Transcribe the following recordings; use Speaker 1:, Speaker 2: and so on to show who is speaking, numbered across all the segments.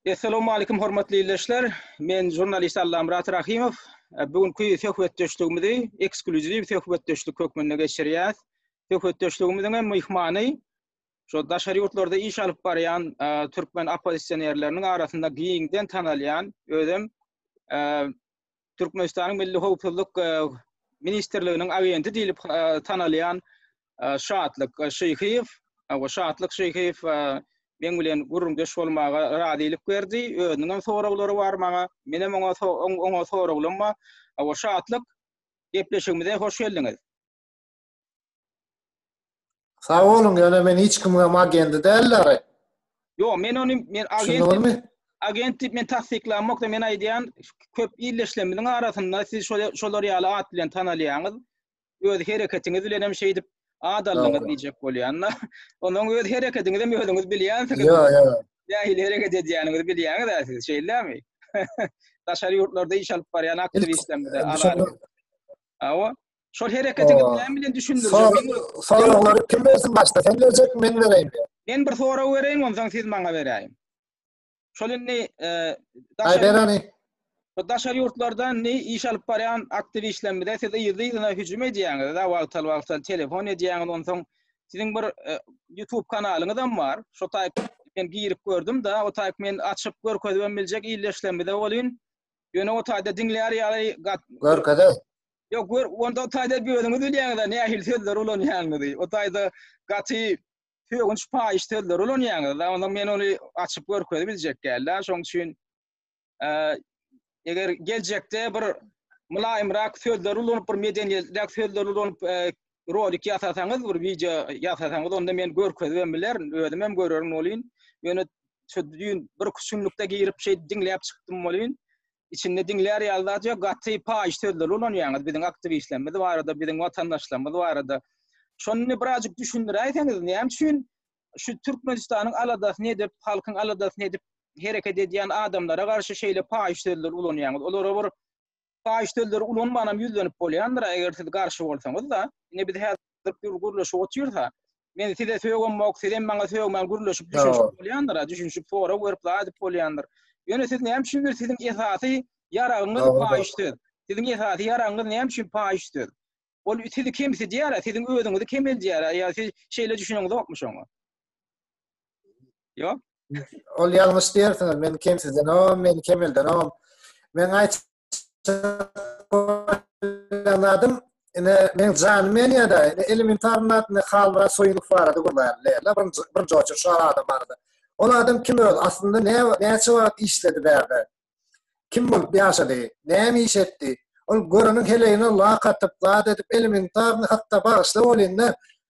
Speaker 1: Essalawmalikim hormatly ildeşler. Men žurnalist Allamyrat Rahymow. Bu günki söhbetdeşligimizi ekskluziw söhbetdeşlik hökmünde geçirýäs. Söhbetdeşligimiziň hem myhmany şo daşary ýurtlarda iş alyp barýan türkmen oppozisionerleriniň arasynda giňden tanalýan özem Türkmenistanyň Milli howpsuzlyk ministrliginiň agenti diýlip tanalýan Şatlyk Şyhyýew, bu Şatlyk Şyhyýew meň bilen gürrüňdeş bolmaga razylyk berdi. Özüniň hem soraglary bar maňa. Menem oňa oňa soraglarym bar. Şatlyk, gepleşigimize hoş geldiňiz.
Speaker 2: Sag boluň, ýöne men hiç kimiňem agendi däldir. Ýok, men
Speaker 1: ony men agent agent diýip men tassyklamokda men aýdýan köp illeşlemizin arasynda siz şol şolar ýaly at bilen tanalýaňyz. Öz hereketiňiz bilen hem şeýdip at aldyňyz diýjek bolýanda. Onuň öz hereketiňiz hem özüňiz bilýänsiňiz. Ýa, ýa.
Speaker 2: Nähili hereket
Speaker 1: edýäniňizi bilýäňiz-ä siz, şeýlemi? Daşary ýurtlarda iş alyp barýan aktiwistlerimiz-ä. Awa. Şol hereketi näme bilen düşündirjek? Soraglary kim
Speaker 2: bersin başda? Sen berjekmi, men bereýinmi? Men bir sorag
Speaker 1: bereýin, onsoň siz maňa beräýiň. Şol indi e, daşary, bereli. daşary ýurtlardan indi iş alyp barýan aktiwistlerimize siz yzly-yzyna hüjüm edýäňiz, da wagtal-wagtal telefon edýäňiz, onsoň siziň bir e, YouTube kanalyňyz hem bar. Şo taýp men girip gördüm da, o taýp men açyp görkezip hem biljek ildeşlerimize bolýun. Ýöne o taýda diňleýär ýaly görkezip
Speaker 2: Yok gör,
Speaker 1: onda o tayda özüňiz bilýäňiz nähili sözler ulanýanyňyzy. O tayda gaty sögünç paýyş sözler ulanýanyňyz. Onda men ony açyp görkezip biljek däldi. Şoň üçin eger geljekde bir mylaýymrak sözler ulanyp, bir medeniýetlirak sözler ulanyp rolik ýasasaňyz, bir wideo ýasasaňyz, onda men görkezip hem bilerin, özüm hem görerin bolýyn. Ýöne şu düýn bir küçümlikde girip şeýdip diňläp çykdym bolýyn. içinde diňlär ýaly zat ýok, gaty paýyş sözleri ulanýaňyz biziň aktiwistlerimiz barada, biziň watandaşlarymyz barada. Şony birazjyk düşündiräýseňiz, näme üçin şu Türkmenistanyň aladasyny edip, halkyň aladasyny edip hereket edýän adamlara garşy şeýle paýyş sözleri ulanýaňyz? Olara bir paýyş sözleri ulanmanam ýüzlenip bolýandyr, eger siz garşy bolsaňyz-da. Ine biz häzir ýaşaýşdyr gür gürleşip otyrsa, men size sögemmok, siz hem maňa sögmän gürleşip düşünşip bolýandyr, düşünşip sorag berip zadyp bolýandyr. Ýöne siz näme üçin bir siziň esasy ýaragyňyz paýyş söz. Siziň esasy ýaragyňyz näme üçin paýyş söz? Ol sizi kemsidýär, siziň özüňizi kemeldýär, ýa siz şeýle düşüneňizokmy şoňa? Ýok. Ol ýalňyş
Speaker 2: diýersiňiz, men kemsidenom, men kemeldenom. Men aýt Şokoladyň ine meň janym ýanyada ine elimin tarynda ine halmyrat soýunow barada gürlärin leyla birinji birinji oçur şu adam barada ol adam kim özi aslynda ne näçe wagt işledi bärde kim bolup ýaşady näme iş etdi ol göreniň heleýine lak atyp zat edip elimin taryny hatda bagyşla bolýynda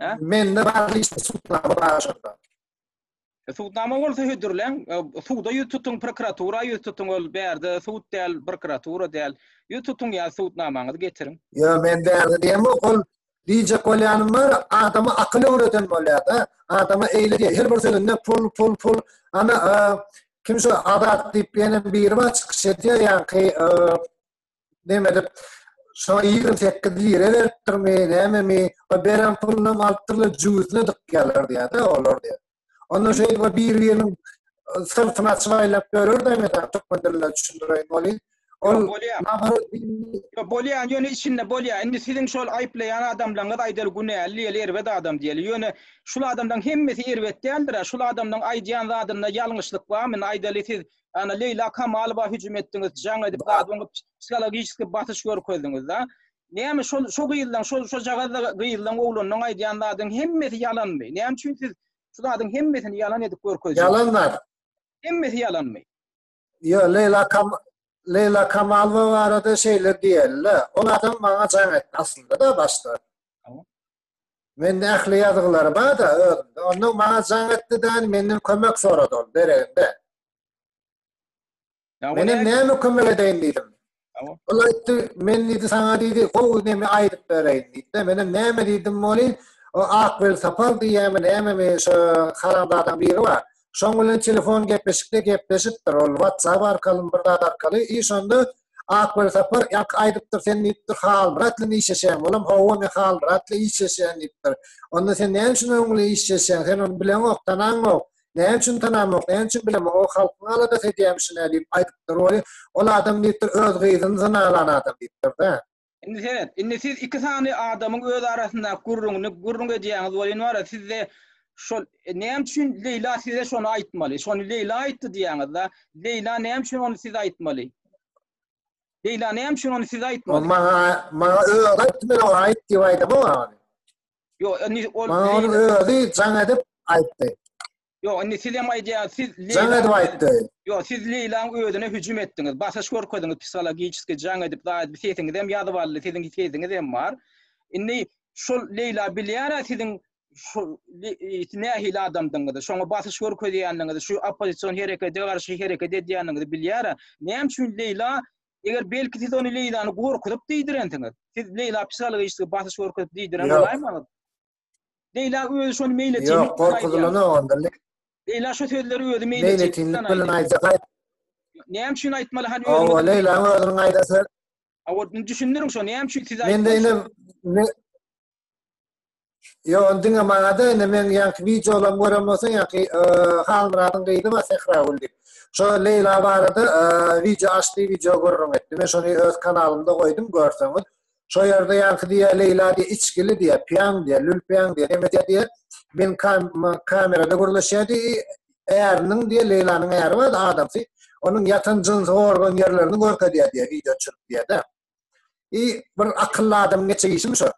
Speaker 1: Hä?
Speaker 2: Mende bar işte sudnama bar şurada. E,
Speaker 1: Sudnama bolsa hödürleň, e, suda ýüz tutuň, prokuratura ýüz tutuň, ol bärde sud däl, prokuratura däl. Ýüz tutuň ýa sudnamaňyzy getiriň. Yo men bärde
Speaker 2: diýem yok ol diýjek bolýanym bar adama akyl öwreden bolýada adama eýle diýýär her bir sözünde pul pul pul ana e, kim şu adat diýip ýene biri bar çykyş edýär ýaňky e, näme edip şoňa ýigrimi sekiz lire beripdirmi nämemi o beren pulunam alypdyrlar jübüsine dykýarlar diýýärdi olar diýýär onda şeýdip o bir biriniň syrtyny açyp aýlap ýörer de emede türkmen dilinde düşündireýin oly ol
Speaker 1: bolýan ýöne içinde bolýar indi siziň şol aýyplaýan adamlaryňyz aýdaly günäli diýeli erbet adam diýeli ýöne şul adamlaryň hemmesi erbet däldir şul adamlaryň aýdýan zadynda ýalňyşlyk barmy aýdaly siz Ana Leýla Kamalowa hüjüm etdiňiz, jaň edip, zadyň psihologiki basyş görkezdiňiz da. Näme şol şo gyzlaň, şol şo jagazda gyzlaň oglanyň aýdýan zadyň hemmesi ýalanmy? Näme üçin siz şu zadyň hemmesini ýalan edip görkezýäňiz? Ýalan zat.
Speaker 2: Hemmesi
Speaker 1: ýalanmy? Ýa
Speaker 2: Leýla Kam Leýla Kamalowa barada şeýle diýeli. Ol adam maňa jaň etdi aslynda da başda. Mende ähli ýazgylary bar-da özümde. Ondan maňa jaň etdi däl, menden kömek sorady ol dereginde. Menem näme kömek edeýin diýdim. Ol aýtdy, men diýdi saňa diýdi, gowy näme aýdyp bereýin diýdi. Menem näme diýdim ony, o Akbel Sapal diýýärmi nämemi şo haramzadaň biri bar. Şoň bilen telefon gepleşikde gepleşipdir, ol WhatsApp arkaly, bir zat arkaly, iş onda Akbaý Sapar ýaňky aýdypdyr, sen diýipdir, Halmyratly işleşýäň. Olam, Hawa, men Halmyratly işleşýän diýipdir. Onda sen näme üçin onuň bilen işleşýäň? Sen ony bileňok, tanaňok. Näme üçin tanamok, näme üçin bilemok? O halkyň aladasy edýämiş-ine diýip aýdypdyr. Ol adam diýipdir, öz gyzyny zyna alan adam diýipdir-de. Indi seret, indi
Speaker 1: siz iki sany adamyň öz arasyndaky gürrüňini gürrüň edýäňiz welin bar ya sizde şol e, näme üçin Leýla size şony aýtmaly? Şony Leýla aýtdy diýýäňiz-de. Leýla näme üçin ony siz aýtmaly? Leýla näme üçin ony siz aýtmaly? Maňa maňa
Speaker 2: özi aýtdy men oňa aýt diýip aýdamok ony. Ýok,
Speaker 1: indi ol Maňa
Speaker 2: ony özi jaň edip aýtdy. Ýok, indi
Speaker 1: siz hem aýdýaňyz, siz Leýla. Jaň edip aýtdy.
Speaker 2: Ýok, siz Leýlaň
Speaker 1: özüne hüjüm etdiňiz, basyş görkezdiňiz, psihologiçeski jaň edip, zaýat sesiňiz hem ýazyp aldy, siziň sesiňiz hem bar. Indi şol Leýla bilýär-ä siziň şu nähili adamdygyňyzy, şoňa basyş görkezýändigiňizi, şu oppozision herekete garşy hereket edýändigiňizi bilýär-ä. Näme üçin Leýla Eger belki siz ony Leýlany gorkuzyp diýdirensiňiz. Siz Leýla psihologiçeski basyş görkezip diýdiren bolaýmaňyz. Leýla özi şony meýil etýär. Ýok, gorkuzylanok
Speaker 2: onda. Leýla şu
Speaker 1: sözleri özi meýil etýär. Meýil etýär, bilen aýdýar.
Speaker 2: Näme
Speaker 1: üçin aýtmaly? Hany özi. Awa, Leýla özüniň
Speaker 2: aýdasy. Awa, düşündiriň
Speaker 1: şony. Näme üçin siz aýtmaly? Mende
Speaker 2: ine Yo, ondan ama da ine men yanki videolarym görem bolsa yanki e, Halmyradyň gyzy bar Sehra gül diýip. Şo Leýla barada e, video açdy, video görüň etdi. Men şony öz kanalymda goýdum, görseňiz. Şo ýerde ýaňky diýýär, Leýla diýýär, içgili diýýär, piýaň diýýär, lülpiýaň diýýär, näme edýär diýýär. Men kamerada gürleşýär diýýär. Äriniň diýýär, Leýlanyň äri bardy, adamsy. Onuň ýatan jynsy organ ýerlerini görkezýär diýýär, wideo düşürip diýýär-de. I, bir akylly adamyň etjek işimi şo?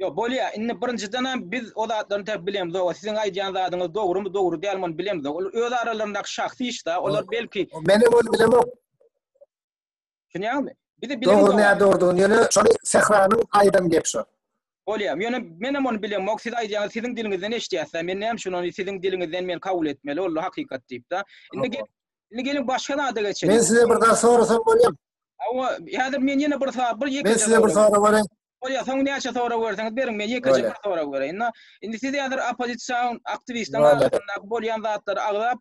Speaker 2: Ýok, bolýar.
Speaker 1: Indi birinjidenem biz o zatlaryny tä bilemizok-a. Siziň aýdýan zadyňyz dogrumy, dogry dälmi, ony bilemizok. Ol öz aralaryndaky şahsy iş-dä. Olar belki. Menem ony bilemok.
Speaker 2: Düşünýäňmi?
Speaker 1: Bizi bilen Dogry näme dogrudygyny ýöne
Speaker 2: şony Sähranyň aýdan gep şo. Bolýa. Ýöne
Speaker 1: menem ony bilemok. Siz aýdýaňyz siziň diliňizden eşidýäsda. Men näme üçin ony siziň diliňizden men kabul etmeli? Ol hakykat diýipda. Indi gel. Indi geliň başga zada geçelim. Men size bir zat sorasam
Speaker 2: bolýar. Awa, häzir
Speaker 1: men ýene bir sor, bir ýekeje. Men size bir
Speaker 2: sora berem. Bolýa, soň näçe
Speaker 1: sora berseňiz beriň, men ýekeje bir sora bereýin. Indi, indi siz häzir oppozisiýa aktiwistiň arasynda bolýan zatlary agzap,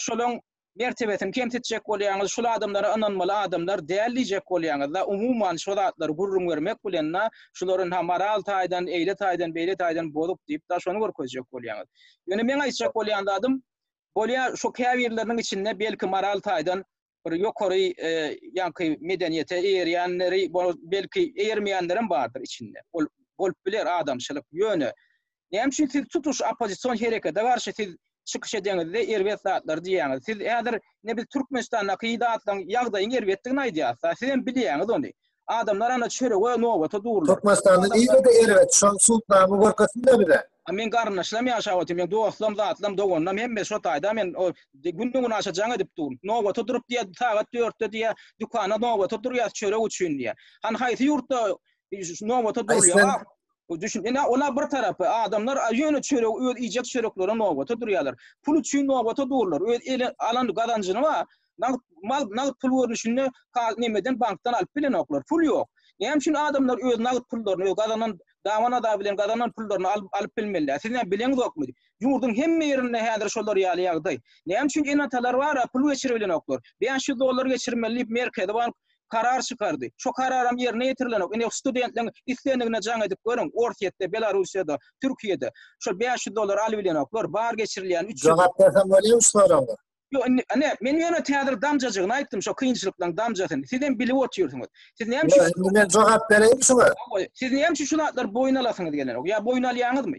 Speaker 1: şolaň mertebesini kemsitjek bolýaňyz, şul adamlara ynanmaly adamlar däl diýjek bolýaňyzda, umuman şo zatlary gürrüň bermek bilenna şularyn ha moral taýdan, eýle taýdan, beýle taýdan bozuk diýipda şony görkezjek bolýaňyz. Ýöne meň aýtjak bolýan zadym, bolýa şo käbirleriniň içinde belki moral taýdan bir ýokary ýaňky medeniýete eýerýänleri, belki eýermeýänlerem bardyr içinde. Ol bolup biler adamçylyk. Ýöne Näme üçin siz tutuş oppozision herekede garşy siz çykyş edeňizde erbet zatlary diýýäňiz? Siz häzir ne biz Türkmenistandaky zatlaryň ýagdaýyň erbetdigini aýdýas da, sizem bilýäňiz ony. Adamlar ana çörege nobata durlar. Türkmenistanda nirede
Speaker 2: erbet? Şony sudnama görkezsinler bize. A meň garyndaşlaram
Speaker 1: ýaşap otyr, meň dostlaram, zatlaram, doganlaram hemmesi şo taýda men o günden güne aşa jaň edip dur. Nobata durup diýýär, sagat dörtde diýýär, dükanda nobata durýas çörek üçin diýýär. Hany haýsy ýurtda nobata durulýar? Bu düşün, ine ola bir tarapy, adamlar ýöne çöregi öz iýjek çöreklerine nobata durýarlar. Pul üçin nobata durlar. Öz eli alan gazanjyny bar. Nagt mal, nagt pul görnüşinde ka nemeden bankdan alyp bilenoklar. Pul ýok. Näme üçin adamlar öz nagt pullaryny, öz gazanan daban-ada bilen gazanan pullaryny alyp alyp bilmeliler. Siz näme bileňizokmy? Ýurduň hemme ýerinde häzir şolar ýaly ýagdaý. Näme üçin ene-atalar bar-a, pul geçiribilenoklar. Bäş ýüz dollar geçirmeli diýip merkezi bank karar çykardy. Şo kararam ýerine ýetirilenok. Indi studentleň islendigine jaň edip görüň, Orsýetde, Belarussiýada, Türkiýede şol bäş ýüz dollar alybilenoklar, bar geçirilýän üç ýüz Jogap berseň bolýamy şu
Speaker 2: soraga? Ýok, indi, ine,
Speaker 1: men ýöne täzir damjajygyny aýtdym, şo kynçylyklaryň damjasyny. Sizem bilip otyrsyňyz. Siz näme üçin? Ýok, indi men jogap
Speaker 2: bereýin şuňa. Siz näme üçin şu
Speaker 1: zatlar boýun alasyňyz gelenok? Ýa boýun alýaňyzmy?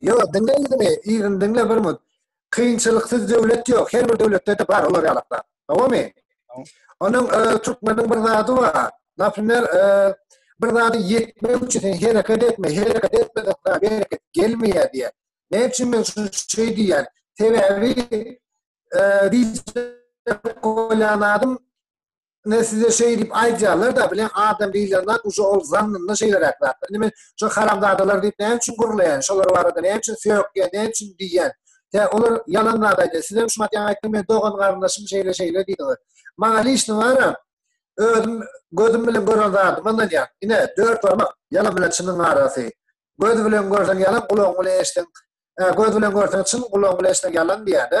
Speaker 1: Yo,
Speaker 2: diňle ýüzümi, yzyny diňle bir mut. Kynçylyksyz döwlet ýok, her bir döwletde-de bar olar ýalaklar. Dogrymy? Onuň türkmeniň bir zady bar. Naprimer, bir zady ýetmek üçin sen hereket etme, hereket etmeden sana bereket gelmeýär diýýär. Näme üçin men şuny şeý diýýän? Sebäbi, diýjek bolýan zadym, Ine size şeý diýip aýdýarlar-da, bile adam diýlen zat uje ol zannynda şeýleräk zatdyr. Indi men şo haramzadalar diýip näme üçin gürleýän, şolar barada näme üçin söýekýän, näme üçin diýýän? Tä olar ýalan zat aýdýar. Sizem şumat ýaňy aýtdyň, men dogan-garyndaşym şeýle-şeýle diýdiňiz. Maňa liçni bar-a, özüm gözüm bilen gören zadyma ynanýan. Ine, dört barmak, ýalan bilen çynyň arasy. Göz bilen görseň ýalan, gulagyň bilen eşitseň, ä, göz bilen görseň çyn, gulagyň bilen eşitseň ýalan diýýän-ä.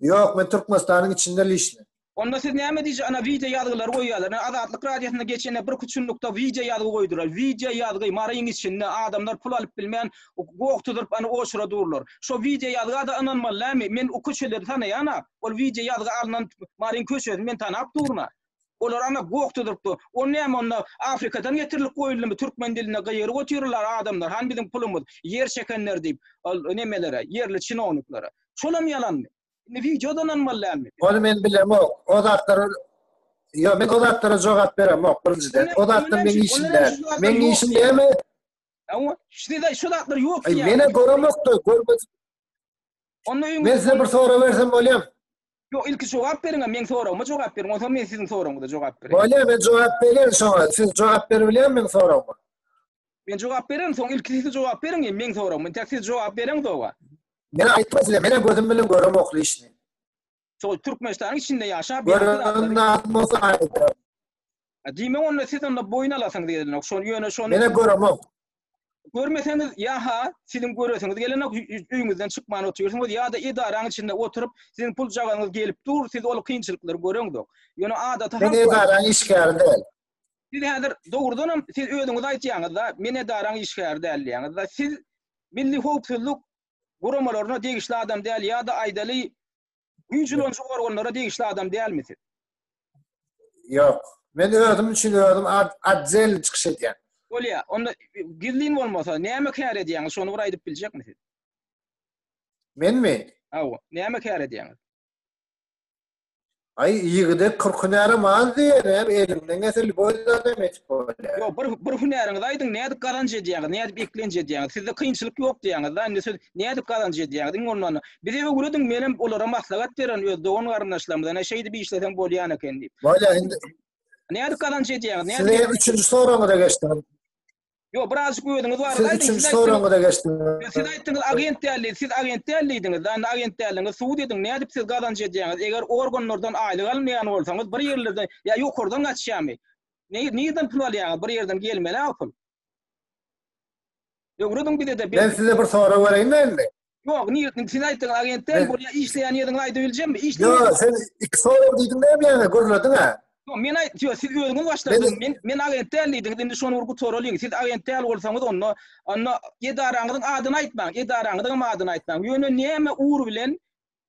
Speaker 2: Ýok, men Türkmenistanyň içinde lişne. Onda siz näme
Speaker 1: diýje ana wideo ýazgylary goýýarlar. Ine Azatlyk radiosynda geçende birki çunlukda wideo ýazgy goýdular. Wideo ýazgy Maryň içinde adamlar pul alyp bilmän gogtudyryp ana oçura durlar. Şo wideo ýazgada ynanmaly näme? Men o köçeleri tanaýana. Ol wideo ýazgy alnan Maryň köçesini men tanap durna. Olar ana gokda durup dur. O näme onda Afrikadan getirilip goýuldymy türkmen dilinde gygyryp otyrlar adamlar han biziň pulumyz ýer çekenler diýip nemelere ýerli çinowniklara. Şolam ýalanmy? Indi wideodan hem bolýar dälmi? Ony men bilemok.
Speaker 2: O zatlara Ýok, men o zatlara jogap beremok birinjiden. O zatlar meniň işim däl. Meniň işim näme? Awa,
Speaker 1: sizde şu zatlar ýok diýýär. Mene göremokda,
Speaker 2: görmez. Onda öňe Men size bir sorag bersem bolýarmy? Ýok, ilki
Speaker 1: jogap beriň, meň soragyma jogap beriň, onsoň men siziň soragyňyza jogap bereýin. Bolýar, men jogap berýän
Speaker 2: şoňa. Siz jogap berip bilýärmi meň soragyma? Men jogap
Speaker 1: bererin, soň ilki siz jogap beriň, meň soragyma. Tä siz jogap bereň soňa. Men aýtdym
Speaker 2: size, menem gözüm bilen göremok lişni. Şol
Speaker 1: Türkmenistanyň içinde ýaşap Görünen zat
Speaker 2: bolsa aýdyň.
Speaker 1: Diýmek onda siz onda boýun alasyňyz gelenok. Şol ýöne şony Mene göremok.
Speaker 2: Görmeseňiz
Speaker 1: ýa-ha siziň göresiňiz gelenok, öýüňizden çykman otyrsyňyz ýa-da edaraň içinde oturyp, siziň pul jagaňyz gelip dur, siz ol kynçylyklary göreňok. Ýöne adaty halk Men edaraň işgäri
Speaker 2: däl. Siz häzir
Speaker 1: dogrudan hem siz özüňiz aýtýaňyz-da, men edaraň işgäri däl diýýäňiz-da. Siz Milli howpsuzlyk guramalaryna degişli adam däl ýa-da aýdaly güýç ulanyjy organlara degişli adam dälmi siz?
Speaker 2: Ýok. Men özüm üçin özüm atzel çykyş edýän. Bolýa. Onda
Speaker 1: gizlin bolmasa näme kär edýäňiz? Şony bir aýdyp biljekmisiz? Menmi?
Speaker 2: Hawa. Näme kär
Speaker 1: edýäňiz?
Speaker 2: Ay ýigide 40 hünärim az diýenem, elinden gelse lüboý adam etip bolýar. Ýok, bir bir hünäriňizi
Speaker 1: aýdyň, nädip gazanç edýäňiz, nädip eklenç edýäňiz? Sizde kynçylyk ýok diýýäňiz da, indi siz nädip gazanç edýäňiz? Iň bolmanda bize öwrediň, men hem olara maslahat beren öz dogan-garyndaşlarymyza, ine şeýdip işleseň bolýan eken diýip. Bolýar indi.
Speaker 2: Nädip gazanç
Speaker 1: edýäňiz? Nädip? Size üçünji soragyňyza
Speaker 2: geçdim. Ýok, birazjyk
Speaker 1: özüňiz barada Siz aýdyň. üçünji soragyňyza
Speaker 2: geçdim. Siz aýtdyňyz,
Speaker 1: agent däl diýip. Siz agent däl diýdiňiz-de, onda agent däldigiňizi subut ediň. Nädip siz gazanç edýäňiz? Eger organlardan aýlyk almaýan bolsaňyz, bir ýerlerde ýa ýokardan gaçýamy? Ne, nirden pul alýaňyz? Bir ýerden gelmeli-ä o pul. Öwrediň bize-de. Men size bir sorag bereýinmi
Speaker 2: indi? Ýok, niýetini sen
Speaker 1: aýtdyň agentde, Men- bolýa işleýän ýeriňi aýdyp biljemmi? Ýo, Işleýän. sen
Speaker 2: iki sorag diýdiň näme ýaňy, gürlediň-ä. Ýok, men aýt, ýok, siz
Speaker 1: özüňiz başladyňyz. Men- Men men agent däl diýdiňiz, indi şony bir gutaralyň. Siz agent däl bolsaňyz, onda onda edaraňyzyň adyny aýtmaň, edaraňyzyň hem adyny aýtmaň. Ýöne näme ugur bilen,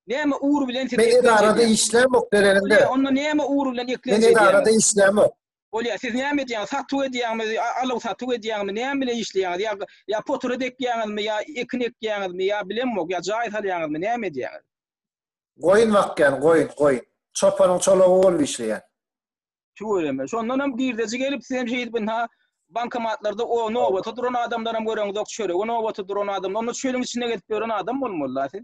Speaker 1: näme ugur bilen siz Men eklenç edarada edýäňiz? işlämok
Speaker 2: berenimde. Ýa, onda näme ugur bilen
Speaker 1: eklenç Men edarada edýäňiz? işlämok.
Speaker 2: Bolýar, siz näme
Speaker 1: edýäňiz, satuw edýäňmi, aluw-satuw edýäňmi, näme bilen işleýäňiz, ýa, ýa potura dekýäňizmi, ýa ekin ekýäňizmi, ýa bilemok, ýa jaý salýaňyzmy, näme edýäňiz? Goýun
Speaker 2: bakýan, goýun, goýun. Çopanyň çolagy bolup işleýän. Tüweleme.
Speaker 1: Şondan hem girdeji gelip, siz hem şeýdip ynha bankomatlarda o nobata duran adamlaram göreňizok, çörege nobata duran adam, onda çölüň içinde gezip ýören adam bolmaly-da siz.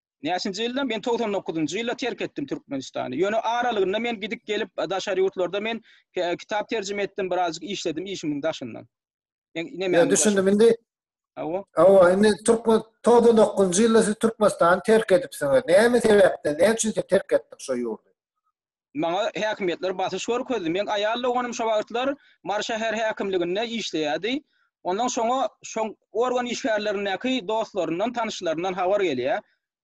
Speaker 2: Näçinji
Speaker 1: ýylda? Men togsan dokuzynjy ýylda terk etdim Türkmenistany. Ýöne aralygynda men gidip gelip daşary ýurtlarda men kitap terjime etdim, birazjyk işledim işimiň daşyndan. Ýa
Speaker 2: düşündim indi. Awa. Awa,
Speaker 1: indi Türkmen
Speaker 2: togsan dokuzynjy ýylda siz Türkmenistany terk edipsiňiz. Näme sebäpden? Näme üçin siz terk etdiňiz şo ýurdy? Maňa
Speaker 1: häkimiýetler basyş görkezdi. Meň aýal doganym şo wagtlar Mary şäher häkimliginde işleýärdi. Ondan şoňa şo organ işgärlerindäki dostlaryndan, tanyşlaryndan habar gelýär.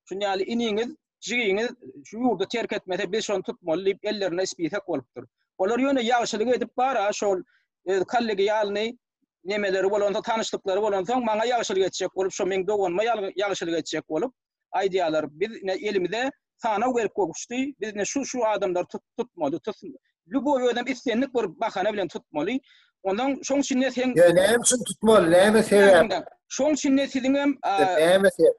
Speaker 1: Şuny ýaly iniňiz, jigiňiz şu ýurdy terk etmese, biz şony tutmaly diýip, ellerinde spisek bolupdyr. Olar ýöne ýagşylyk edip bar-a, şol öz kollegialnyý nemeleri bolansoň, tanyşlyklary bolansoň, maňa ýagşylyk etjek bolup, şo meň doganyma ýagşylyk etjek bolup, aýdýarlar, biz ine elimize sanaw gelip gowuşdy, biz ine şu-şu adamlary tutmaly, lýuboý özem islendik bir bahana bilen tutmaly. Ondan şoň üçin-de sen Ýöne näme üçin tutmaly,
Speaker 2: näme sebäp? Şoň üçin-de siziň
Speaker 1: hem näme sebäp?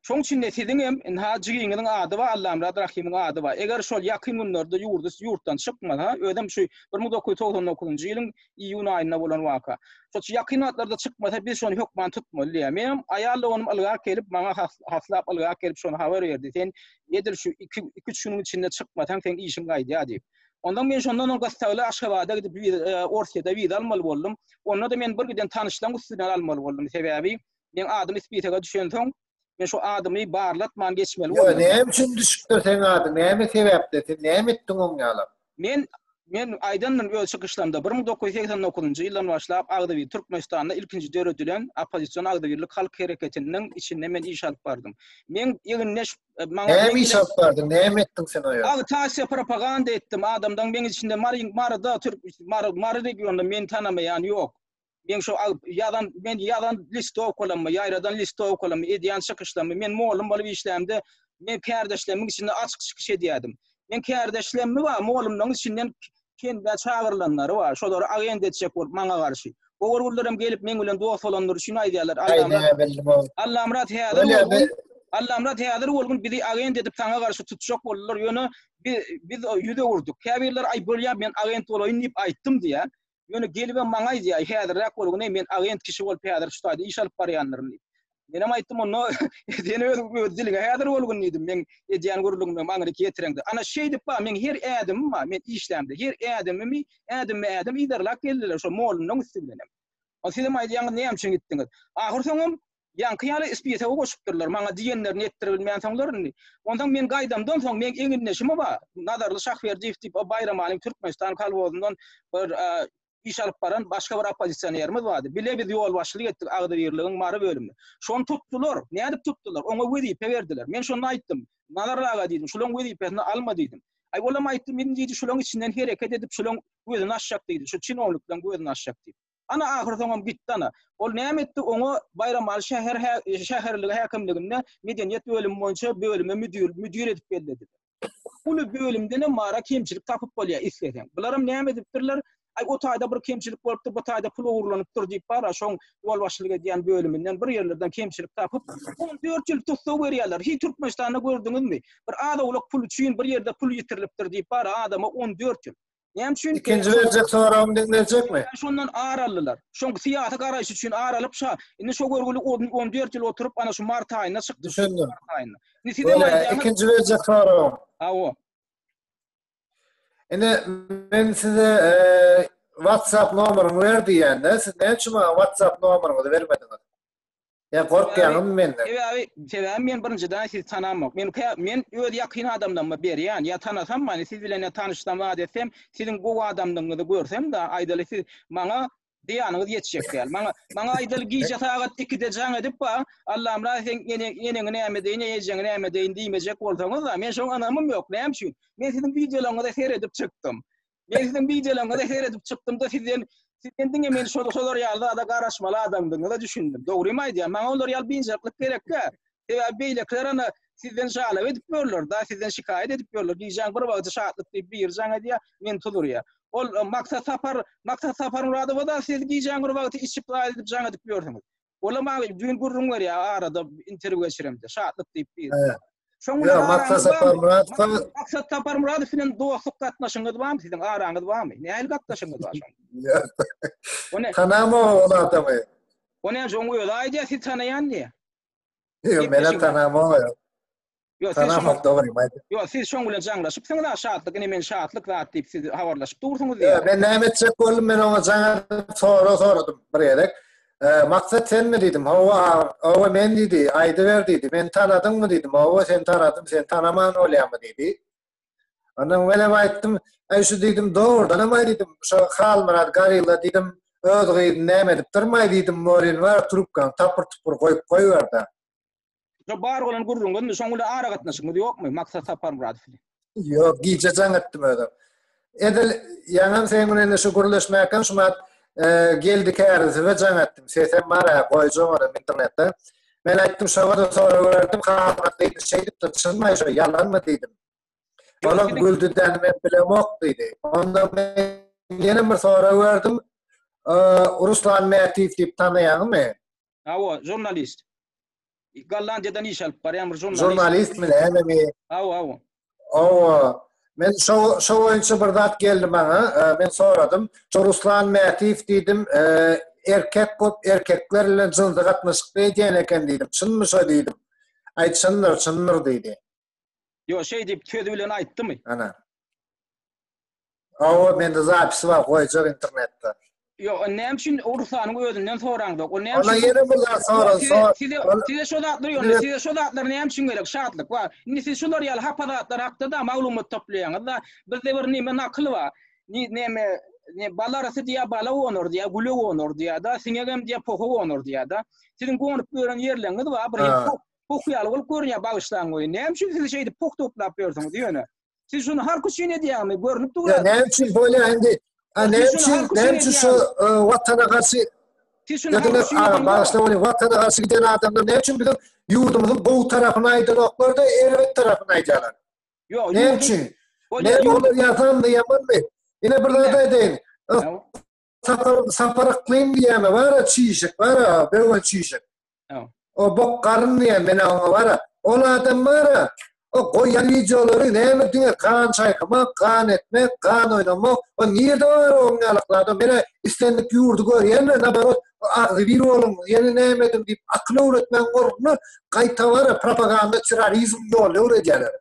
Speaker 2: Şoň üçin-de siziň
Speaker 1: hem inha jigiňiziň ady bar, Allamyrat Rahimiň ady bar. Eger şol ýakyn günlerde ýurdy ýurtdan çykmasa, özem şu 1999-njy ýylyň iýun aýynda bolan waka. Şol şu ýakyn wagtlarda çykmasa, biz şony hökman tutmaly diýýär. Menem aýal doganym ylgap gelip, maňa haslap ylgap gelip şony habar berdi. Sen edil şu iki-üç günüň içinde çykmasaň, seň işiň gaýdýar diýip. Onsoň men şondan soň gyssagly Aşgabada gidip, Orsýede wiza almaly boldum. Onda-da men birgiden tanyşlaryň üstünden almaly boldum. Sebäbi men adym spisege düşensoň, Men şu adymy barlatman geçmeli boldum. Ýa näme üçin düşüpdir
Speaker 2: seň adyň? Näme sebäpde? Sen näme etdiň oň ýalap? Men Men
Speaker 1: aýdandym öz çykyşlarymda 1989-njy ýyldan başlap agzybir Türkmenistanda ilkinji döredilen oppozision agzybirlik halk hereketiniň içinde men iş alyp bardym. Men ýygynda e, maňa Näme iş
Speaker 2: alyp bardyň? Näme etdiň sen o ýerde? Agitasiýa propaganda
Speaker 1: etdim. Adamdan meň içinde Mary Maryda Türk Mary Mary regionynda meni tanamaýan ýok. Men şu ýazan, men ýazan listowkalamy, ýaýradan listowkalamy, edýän çykyşlamy, men mugallym bolup işlämde, men kärdeşlemiň içinde açyk çykyş edýärdim. Men kärdeşlemmi bar, mugallymlaryň içinden kende çagyrylanlary bar, şolary agent etjek bolup maňa garşy. Ogurgullarym gelip meň bilen dost bolandyr üçin aýdýarlar, Allamyrat, Allamyrat häzir ol gün bizi agent edip saňa garşy tutjak boldular, ýöne biz ýüz öwürdik. Käbirleri aý bolýar, men agent bolaýyn diýip aýtdym diýýär. Ýöne gelibem maňa aýdýar, häzirräk bol, güni men agent kişi bolup häzir şu taýda iş alyp barýandyryn diýip. Menem aýtdym, onda sen öz öz diliňe häzir bol gün diýdim. Men edýän gürrüňimi maňryk ýetireňde. Ana şeýdip bar, meň her ädimim bar, men işlämde her ädimimi ädimbe ädim yzarlap geldiler, şo mollanyň üsti bilenem. Ol sizem aýdýaňyz näme üçin gitdiňiz? Ahyrsoňam Ýaňky ýaly spise-o goşupdyrlar. Maňa diýenlerini etdiribilmänsoňlar indi. Onsoň men gaýdamdan soň meň egindeşim-o bar, Nazarly Şahberdiýew diýip, o Baýramanyň Türkmenistan kolhozyndan bir iş alyp baran başga bir oppozisionerimiz bardy. Bile biz ýolbaşçylyk etdik agzybirligiň Mary bölümine. Şony tutdular. Nädip tutdular? Oňa wezipe berdiler. Men şonda aýtdym. Nazarly aga diýdim, şulaň wezipesini alma diýdim. Aý, olam aýtdy, men diýdi, şulaň içinden hereket edip, şulaň gözüni açjak diýdi, şu çinownikleň gözüni açjak diýip. Ana ahyrsoňam gitdi ana. Ol näme etdi, oňa Baýramaly şäher şäherligi häkimliginde medeniýet bölümi boýunça bölüme müdir müdir edip bellediler. Uly bölümdenem mara kemçilik tapyp bolýar isleseň. Bularam näme edipdirler, aý o taýda bir kemçilik bolupdyr, bu taýda pul ogurlanypdyr diýip bara şoň ýolbaşçylyk edýän bölüminden bir ýerlerden kemçilik tapyp, on dört ýyl tussag berýärler. Hiý Türkmenistanda gördüňizmi? Bir az-owlak pul üçin bir ýerde pul ýitirilipdir diýip bara adama on dört ýyl. Näme üçin? Ikinji berjek soragyny
Speaker 2: diňlejekmi? Şondan ar aldylar.
Speaker 1: Şoň syýasy garaýşy üçin ar alyp şa. Indi şo görgüli 14 ýyl oturyp, ana şu mart aýynda çykdy. Düşündim. Indi
Speaker 2: siz hem aýdýaňyz.
Speaker 1: Ikinji berjek
Speaker 2: soragyň. Hawa.
Speaker 1: Indi
Speaker 2: men size e, WhatsApp nomeryňy ber diýende, siz näme üçin maňa WhatsApp nomeryňyzy bermediňiz? Sen gorkýaňmy menden? Sebäbi, sebäbi men
Speaker 1: birinjiden sizi tanamok. Men kä, men öz ýakyn adamlaryma berýän. Ýa tanasam many, siz bilen ýa tanyşsam zat etsem, siziň gowy adamlygyňyzy görsem-de, aýdaly siz maňa zyýanyňyz ýetjek däl. Maňa, maňa aýdaly gije sagat ikide jaň edip bar, Allamyrat seň ene, eneňi näme edeýin, ejeňi näme edeýin diýmejek bolsaňyz-da, men şoňa ynamym ýok. Näme üçin? Men siziň wideolaryňyza seredip çykdym. Men siziň wideolaryňyza seredip çykdymda sizden sizden diňe men şol şolar ýaly zada garaşmaly adamdygyňyza düşündim. Dogrymy aýdýan? Maňa olar ýaly biynjalyklyk gerekkä? Sebäbi beýlekiler ana sizden jalap edip ýörler, da sizden şikaýat edip ýörler. Gijäň bir wagty şatlyk diýip biri jaň edýär, men tuz urýar. Ol e, Maksat Sapar, Maksat Sapar Muradowa da siz gijäň bir wagty içip zaýat edip jaň edip ýörsiňiz. Olam agim düýn gürrüň berýär arada interwýu geçiremde. Şatlyk diýip bir. He. Şoň bilen
Speaker 2: Maksat Saparmyradowa. Maksat
Speaker 1: Saparmyradow bilen dostluk gatnaşygyňyz barmy siziň? Araňyz barmy? Nähili gatnaşygyňyz bar şoň? Ýok. Tanama ol
Speaker 2: adamy. Ony şoň
Speaker 1: özi aýdýar siz tanaýan diýýär. Ýok,
Speaker 2: men tanama ony. Ýok, siz
Speaker 1: şoňa. Şarafat dogry
Speaker 2: aýdyp. Ýok, siz şoň bilen
Speaker 1: jaňlaşypsyňyz ha, Şatlyk ine men Şatlyk zat diýip siz habarlaşyp dursuňyz diýýär. Men näme etjek
Speaker 2: boldum, men oňa jaňa sorag soradym bir gezek. Maksat senmi diýdim, hawa, hawa men diýdi, aýdyber diýdi, meni tanadyňmy diýdim, hawa seni tanadym, seni tanaman bolýarmy diýdi. Ondan men hem aýtdym, aý şu diýdim, dogrudan hem aý diýdim, şu Halmyrat Garilla diýdim, öz gyzyny näme edipdirmaý diýdim, Morin bar, trubkany tapyr-tupur goýup goýber-de. Şu
Speaker 1: bar bolan gürrüňiz, şoň bilen aragatnaşygyňyz ýokmy Maksat Saparmyradow bilen? Ýok, gije
Speaker 2: jaň etdim özüm. Edil ýaňam sen bilen indi şu gürleşmäkäm şu mat e, geldi kärlisibe jaň etdim. Sesem bar-a, goýjaň ora internetde. Men aýtdym, şoňa-da sorag berdim, halat diýdi, şeýdipdir, çynmy şu, ýalanmy diýdim. Olam güldi däni men bilemok diýdi. Onda men ýene bir sorag berdim. Ruslan Mätiýew diýip tanaýaňmy? Awa,
Speaker 1: žurnalist. Gollandiýadan iş alyp barýan bir žurnalist. Žurnalistmi näme bi?
Speaker 2: Awa, awa.
Speaker 1: Awa.
Speaker 2: Men şo şo boýunça bir zat geldi maňa. E, men soradym. Şo Ruslan Mätiýew diýdim, e, erkek köp erkekler bilen jynsy gatnaşykda edýän eken diýdim. Çynmy şo diýdim. Aýt çyndyr, çyndyr diýdi. Yo şey
Speaker 1: diýip söz bilen aýtdymy? Ana.
Speaker 2: Awa mende zapisi bar goýjak internetde. Yo näme
Speaker 1: üçin o Rusanyň özünden soraňda? O näme üçin? Ona ýene bir zat soran.
Speaker 2: Size size şu
Speaker 1: zatlar ýöne size şu zatlar näme üçin gerek? Şatlyk bar. Indi siz şular ýaly hapa zatlar hakda da maglumat toplaýaňyz da. Bizde bir näme nakyl bar. Ni näme ne balarasy diýä bala onur diýä güle onur diýä da siňegem diýä poha onur diýä da. Siziň gonup ýören ýerleriňiz bar. Bir Puh ýaly bolup görünýär bagyşlaň goýun. Näme üçin siz şeýdip puh toplap ýörsüňiz ýöne? Siz şuny halk üçin edýäňmi? Görünip dur. Näme üçin bolýar indi?
Speaker 2: Näme üçin? Näme üçin şu e, watana garşy Siz şuny halk üçin edýäňmi? Bagyşlaň goýun. Watana garşy giden adamlar näme üçin biziň ýurdumyzyň gowy tarapyny aýdanoklar da erbet tarapyny aýdýarlar? Ýok, näme
Speaker 1: üçin?
Speaker 2: Ne olar ýazanmy, ýamanmy? Ine bir zat aýdaýyn. Sapar, sapar ykmym diýýäme bara çişik bara, böwen çişik. O bok garyn diýen men aňa bara. Ol adam bara, o goýan wideolary näme diňe gan çaýkamak, gan etmek, gan oýnamak. O nirde bar o ňalakly adam? Mena islendik ýurdy görýänler, naborot, agzy bir boluň, ýene näme ediň diýip akyl öwretmäň ornuna gaýta bara propaganda, terrorizm ýoly öwredýärler.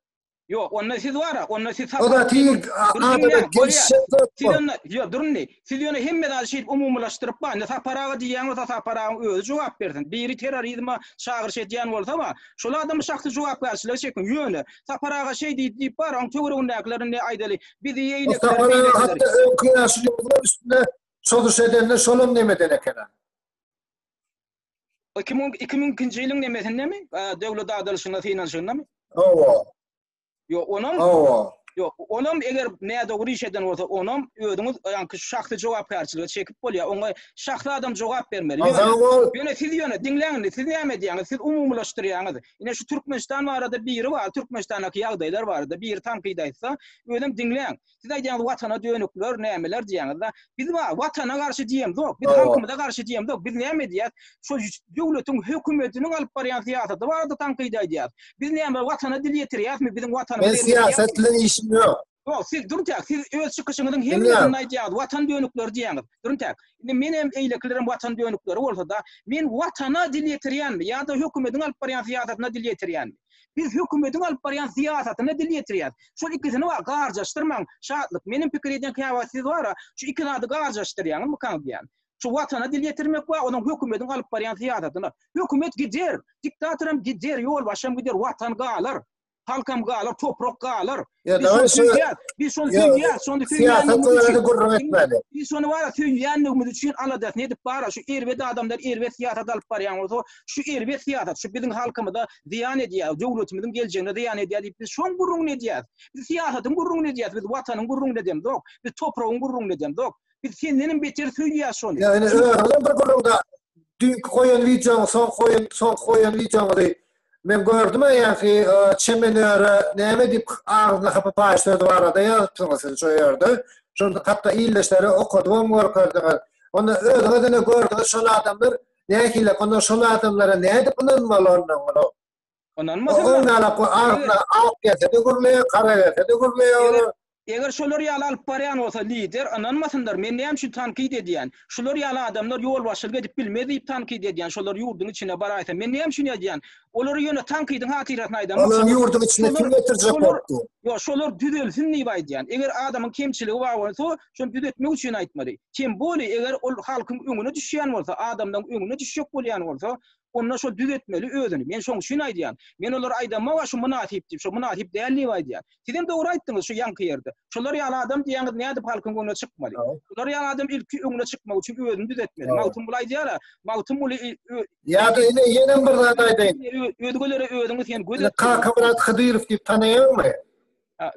Speaker 2: Ýok, onda
Speaker 1: siz bar-a, onda siz sapyk. O zat hil
Speaker 2: adama gelişjek zat bol. Ýok, dur indi.
Speaker 1: Siz ýöne hemme zady şeýdip umumilaşdyryp bar. Indi Sapar aga diýýän bolsa, Sapar agaň özi jogap bersin. Biri terrorizme çagyryş edýän bolsa-a, şol adamy şahsy jogapkärçilige çekiň. Ýöne, Sapar aga şeý diýdi diýip bar-a, onuň töweregindäkiler indi aýdaly, bizi ýeýlekler, beýlekler. O Sapar aga hatda
Speaker 2: öňki ýaşuly ýazylar üstünde çozuş edende şolam nemeden eken-a? Iki
Speaker 1: müň iki müň ikinji ýylyň nemesindemi? Döwlet adylyşyna synanyşyndamy? Hawa.
Speaker 2: Yo,
Speaker 1: onam Hawa. Yo, onam eger nädogry iş eden bolsa, onam özüňiz ýaňky şahsy jogapkärçilige çekip bolýar. Oňa şahsy adam jogap bermeli. Ýöne siz ýöne diňläň indi, siz näme diýýäňiz? Siz umumylaşdyrýaňyz. Ine şu Türkmenistan barada biri bar, Türkmenistandaky ýagdaýlar barada biri tankyt aýtsa, özem diňläň. Siz aýdýaňyz watana dönükler, nämeler diýýäňiz-de. Biz wa watana garşy diýemz ok, biz halkymyza garşy diýemz ok. Biz näme diýýäs? Şu döwletiň hökümetiniň alyp barýan syýasaty barada tankyt aýdýas. Biz näme watana dil ýetirýäsmi? Biziň watanymyz. Men syýasat bilen
Speaker 2: işim ýok. Ýok, siz duruntak,
Speaker 1: siz öz çykyşyňyzyň hemmesinde aýdýaňyz, watan dönükleri diýýäňiz. Duruntak. Indi men hem eýlekilerem watan dönükleri bolsa-da, men watana dil ýetirýänmi ýa-da hökümetiň alyp barýan syýasatyna dil ýetirýänmi? Biz hökümetiň alyp barýan syýasatyna dil ýetirýäs. Şol ikisini wa garjaşdyrmaň, Şatlyk. Meniň pikir edýän käwagt siz wara, şu iki zady garjaşdyrýaňmykaň diýýän. Şu Watana dil ýetirmek wa onuň hökümetiň alyp barýan syýasatyna. Hökümet gider, diktatoram gider, ýolbaşçam gider, Watan galar. Halkam galar, toprak galar. Ya Biz şony söýýär. Biz şony söýýär. Şony söýýär. Biz şony bar, söýýänligimiz üçin aladasyny edip bar. Şu erbet adamlar erbet syýasat alyp barýan bolsa, şu erbet syýasat, şu biziň halkymyza zyýan edýär, döwletimiziň geljegine zyýan edýär diýip biz şoň gürrüňini edýäris. Biz syýasatyň gürrüňini edýäris. Biz watanyň gürrüňini edemizok. yok. Biz topragyň gürrüňini edemizok. yok. Biz senden hem beter söýýär şony. Yani özüňden bir
Speaker 2: gürrüňde düýnki goýan wideoň, soň goýan, soň goýan wideoňy Men gördüm aýaky çemenöre näme diýip agzyna hapa paýy sözi barada ýazypsyňyz siz şo ýerde. Şonda hatda ildeşlere okadybam görkezdiňiz. Onda özüňiz ine gördüňiz şol adamlar nähili onda şol adamlara nädip ynanmaly onda muny. Ynanmasynlar.
Speaker 1: Onda
Speaker 2: agzyna ak gelse-de gürleýär, gara gelse-de gürleýär. Eger şolar ýaly
Speaker 1: alyp barýan bolsa lider, ynanmasynlar, men näme üçin tankyt edýän? Şular ýaly adamlar ýolbaşçylyk edip bilmez diýip tankyt edýän, şolar ýurduň içine baraýsa, men näme üçin edýän? Olary ýöne tankydyň hatyrasyna aýdan bolsam, Olary ýurduň içine kim
Speaker 2: getirjek bolupdy? Ýok, şolar
Speaker 1: düzelsin diýip aýdýan. Eger adamyň kemçiligi bar bolsa, şony düzetmek üçin aýtmaly. Tem boli, eger ol halkyň öňüne düşýän bolsa, adamlaryň öňüne düşjek bolýan bolsa, onda şol düz etmeli özüni. Men şoň üçin aýdýan. Men olara aýdamok a şu mynasyp diýip, şo mynasyp däl diýip aýdýan. Siz hem dogry aýtdyňyz şu ýaňky ýerde. Şolar ýaly adam diýýäňiz nädip halkyň öňüne çykmaly. Şolar ýaly adam ilki öňüne çykmak üçin özüni düzetmeli. Magtymguly aýdýar a, Magtymguly ö. Ýa-da ine
Speaker 2: ýenem bir zat aýdaýyn. Özgelere özüňi
Speaker 1: sen göz et. Kakamyrat Hydyrow
Speaker 2: diýip tanaýaňmy?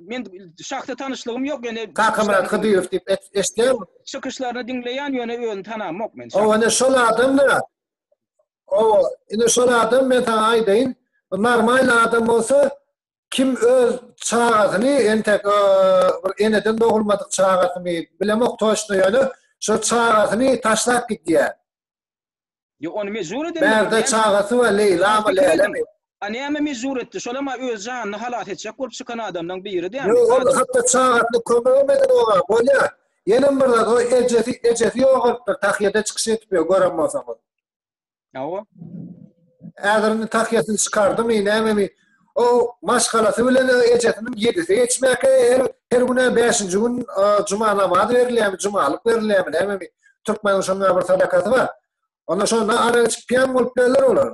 Speaker 2: Men
Speaker 1: şahsy tanyşlygym ýok ýöne Kakamyrat Hydyrow diýip
Speaker 2: eşitýäňmi? Çykyşlaryny diňleýän
Speaker 1: ýöne özüni tanamok men. Oňa ne şol adam
Speaker 2: da O, indi şol adam men sana aýdaýyn, normal adam bolsa kim öz çagasyny entek bir eneden dogulmadyk çagasyny bilemok toşna ýöne şo çagasyny taşlap gidýär.
Speaker 1: Ýok, ony mejbur edildi. Bärde çagasy we
Speaker 2: Leýla we Lälemi. A näme mejbur
Speaker 1: etdi? Şolam-a öz janyny halas etjek bolup çykan adamlaň biri dämi? Ýok, ol hatda
Speaker 2: çagasyna kömegem eden oňa. Bolýa. Ýenem bir zat, o ejesi, ejesi ýogalypdyr, tahýada çykyş edip ýör, gören bolsaňyz. Hawa. Häzir indi tahýasyny çykardymy, nämemi, o maşgalasy bilen ejesiniň ýedisi geçmäke, her, her gün-ä bäşinji gün juma namazy berilýärmi, jumalyk berilýärmi, nämemi, türkmeniň şonuň-a bir sadakasy bar. Onda şonda ara içip, piýan bolup bilerler olar.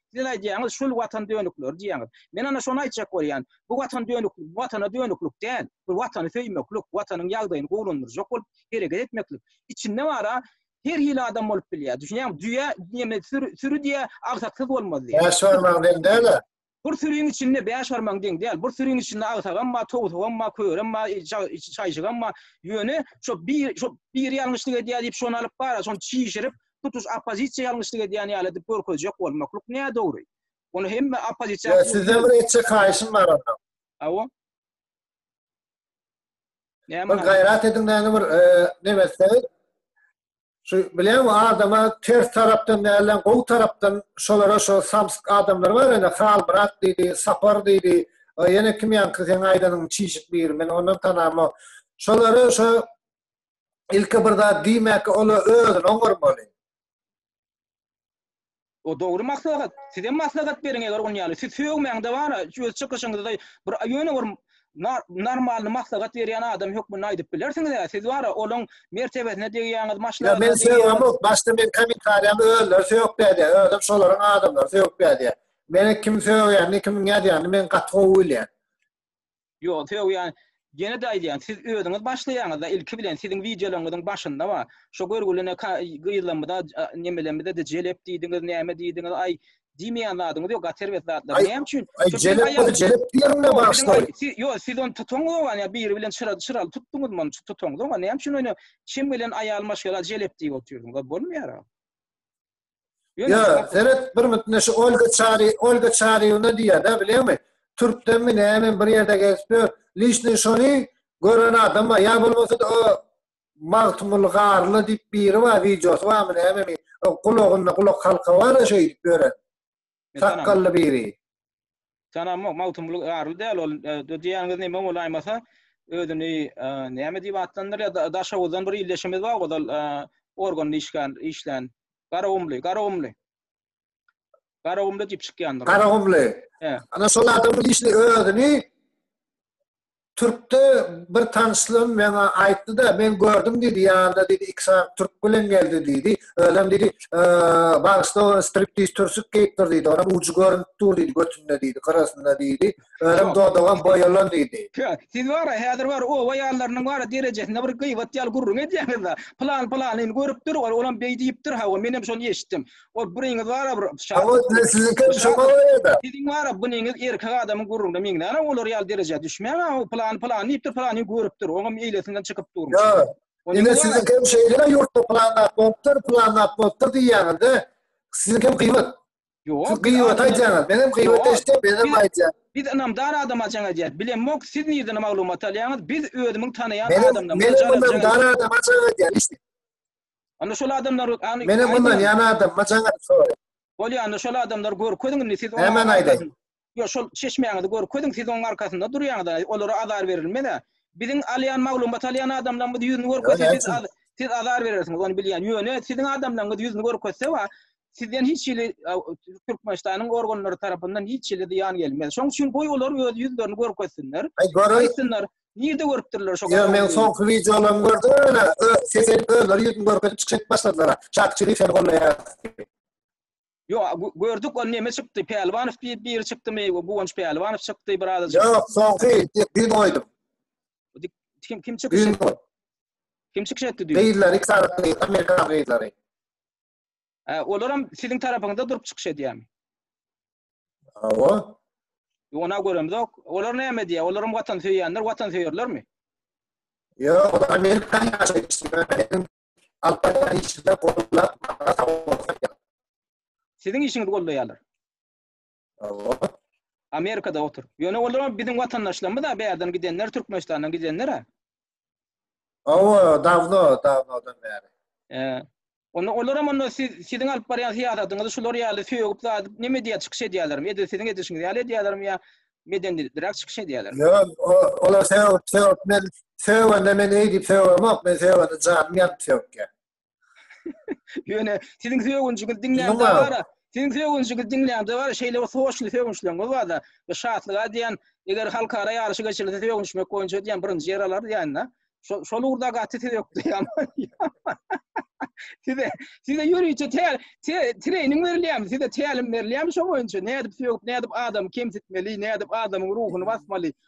Speaker 1: Siz aýdýaňyz, şul watan dönükleri diýýäňiz. Men ana şony aýtjak bolýan. Bu watan dönüklik, watana dönüklik däl. Bu watany söýmeklik, watanyň ýagdaýyny gowulandyrjak bolup hereket etmeklik. Içinde bar-a, her hili adam bolup bilýär. Düşünýäňmi? Düýe, näme, süri diýýär, agsaksyz bolmaz diýýär. Bäş barmagyň deň däl-ä.
Speaker 2: Bir süriň
Speaker 1: içinde bäş barmagyň deň däl. Bir süriň içinde agsagam bar, towsugam bar, körem bar, çaýjygam bar. Ýöne şo biri ýalňyşlyk edýär diýip, şony alyp bar-a, şony çişirip, tutuş oppozisiýa ýalňyşlyk edýän ýaly edip görkezjek bolmaklyk nädogry. Ony hemme oppozisiýa Ýa sizden bir etjek
Speaker 2: haýyşym bar onda. Hawa. Näme? Bir gaýrat ediň näme bir näme etseňiz. Şu bilen adama ters tarapdan nälen gowy tarapdan şolara şo samsyk adamlar bar ene Halmyrat diýdi, Sapar diýdi. Ýene kim ýaňky seň aýdanyň çişik biri men ondan tanamok. Şolara şo Ilki bir zat diýmäki ol özüni oňarmaly.
Speaker 1: O dogry maslahat. Sizem maslahat beriň eger on ýaly. Siz sögmäň de bara öz çykyşyňyzda bir ýöne bir normalny maslahat berýän adam hökmünde aýdyp bilersiňiz a siz bara olaň mertebesine degýäňiz maşlagat. Men sögämok
Speaker 2: başda men kommentariýamy özleri sögüp berýä özem şolaryň adamlary sögüp berýä. Meni kim sögýänini kim ýazýanyny men gaty gowy bilýän.
Speaker 1: Ýok, sögýän Ýene-de aýdýan, siz özüňiz başlaýaňyzda ilki bilen siziň wideolaryňyzyň başynda bar. Şo görgüli ne ka gyzlarymyza nemelerimize-de jelep diýdiňiz, näme diýdiňiz, aý, diýmeýän zadyňyz ýok, gat erbet zatlar. Näme üçin? Aý, aý jelep bolsa jelep
Speaker 2: diýerin-dä başda. Ýok, siz ony
Speaker 1: tutaňyz oňa, ýa biri bilen çyra çyraly tutduňyzmy ony, tutaňyz oňa. Näme üçin ony çem gelen aýal maşgala jelep diýip otyrdyňyz, bolmaýar-a. Ýa,
Speaker 2: seret bir mütne şu Olga Çary, Olga Çaryýewna diýýär da, bilýäňmi? Türkdenmi, näme bir ýerde gezip ýör. Lişni şony gören adam bar. Ýa bolmasa-da o Magtymguly Garly diýip biri bar, wideosy barmy, nämemi? O gulagynda gulak halka bar-a şeýdip ýören. Sakgally biri. Tanamok,
Speaker 1: Magtymguly ýarly däl ol. Diýýäniňiz näme bolaýmasa, özüni näme diýip atlandyrýar, Daşoguzdan bir ildeşimiz bar ozal organda işgän, işlän. Garagumly, Garagumly. Garagumly diýip çykýandyr. Garagumly. He.
Speaker 2: Ana şol adam bir işli özüni Türkde bir tanyşlarym maňa aýtdy-da, men gördüm diýdi, ýanynda diýdi iki sany türk bilen geldi diýdi. Özem diýdi, bagyşla ony striptiz türsük geýipdir diýdi, onam ujy görünip dur diýdi götünde diýdi, gyrasynda diýdi. Özem dodagam boýalan diýdi. Siz bara häzir
Speaker 1: bar oba ýallarynyň bara derejesinde bir gyýbat ýaly gürrüň edýäňiz-de, pylan pylanyny görüpdir, olam beý diýipdir, hawa, menem şony eşitdim. Ol buriňiz bar bir şa. Awa siziňki
Speaker 2: şoňa goýada. Siziň bar buniňiz
Speaker 1: erkek adamyň gurrunda meňzäne olar ýaly derejä düşmäň a plan plan diýipdir plan görüpdir oňam eýlesinden çykyp dur. Ýa. Ine
Speaker 2: siziňki hem şeýle ýurtda plan nap bolupdyr plan nap bolupdyr diýýäňizde siziňki hem gyýbat. Ýok. Siz gyýbat
Speaker 1: aýdýaňyz
Speaker 2: men hem gyýbat eşitdim men hem aýdýan. Biz ynamdar adama
Speaker 1: jaň edýäs. Bilemok siz nirden maglumat alýaňyz biz özümiň tanaýan adamdan. Men hem ynamdar
Speaker 2: adama jaň edýän. Onda şol
Speaker 1: adamlar Meni ynanýan
Speaker 2: adamma jaňaryp soraýyn. Bolýa onda şol
Speaker 1: adamlary görkeziň indi siz onuň Nämäni aýdaýyn? Ýok şol çeşmäňizi görkeziň siz onuň arkasynda durýaňyz olara azar berilmez-ä. Biziň alýan maglumat alýan adamlarymyz ýüzüni görkezse siz siz azar berersiňiz ony bilýän. Ýöne siziň adamlaryňyz ýüzüni görkezse wa sizden hiç hili Türkmenistanyň organlary tarapyndan hiç hili zyýan gelmez. Şoň üçin goý olar öz ýüzlerini görkezsinler. Aýtsynlar. Nirde görüpdirler şo Ýa men soňky wideolaryny
Speaker 2: gördüm öne sesini özleri ýüzüni görkezip çykyş edip başladylar. Çak çyry seni gollaýas.
Speaker 1: Ýok gördük ony neme çykdy Pälwanow diýip biri çykdymy Guwanç Pälwanow çykdy bir adam. Ýok soňky
Speaker 2: dün goýdum.
Speaker 1: Kim kim çykyş etdi? Kim çykyş etdi dün? Gyzlar iki sany gyz
Speaker 2: amerikan gyzlary. Hä,
Speaker 1: olaram siziň tarapyňyzda durup çykyş edýärmi? Hawa.
Speaker 2: Ýona göremzok.
Speaker 1: Olar näme diýýär? Olaram watan söýýänler, watan söýerlermi?
Speaker 2: Ýok, olar Amerikany ýaşaýyşyň Alpaydan işinde gollap, maňa sag bolsun ýa.
Speaker 1: Siziň işiňizi gollaýarlar.
Speaker 2: Hawa.
Speaker 1: Amerikada oturyp. Ýöne olar biziň watandaşlarymyz-a, bärden gidenler, Türkmenistandan gidenler-a.
Speaker 2: Hawa, dawno, dawnodan bäri. He. Onda olaram
Speaker 1: onda siz, siziň alyp barýan syýasatyňyzy şular ýaly sögüp, zadyp, neme edýär, çykyş edýärlermi? Edil siziň edişiňiz ýaly edýärlermi ýa medenilikliräk çykyş edýärlermi? Ýok, o- olar
Speaker 2: sögüp, sögüp, men sögende men eýdip sögemok, men sögende janym ýanyp sögýär.
Speaker 1: Ýöne siziň sögünjiňizi diňlände bara, siziň sögünjiňizi diňlände bara şeýle bir hoşly sögünçleriňiz bar-da. Bu şatlyga diýen, eger halkara ýaryşy geçirilse sögünişmek boýunça diýen birinji ýer alar diýen-de. Şol şol ugurda gaty sizi ökleýän. Size size ýörite täl trening berilýärmi? Size tälim berilýärmi şo boýunça? Nädip sögüp, nädip adam kemsitmeli, nädip adamyň ruhuny basmaly?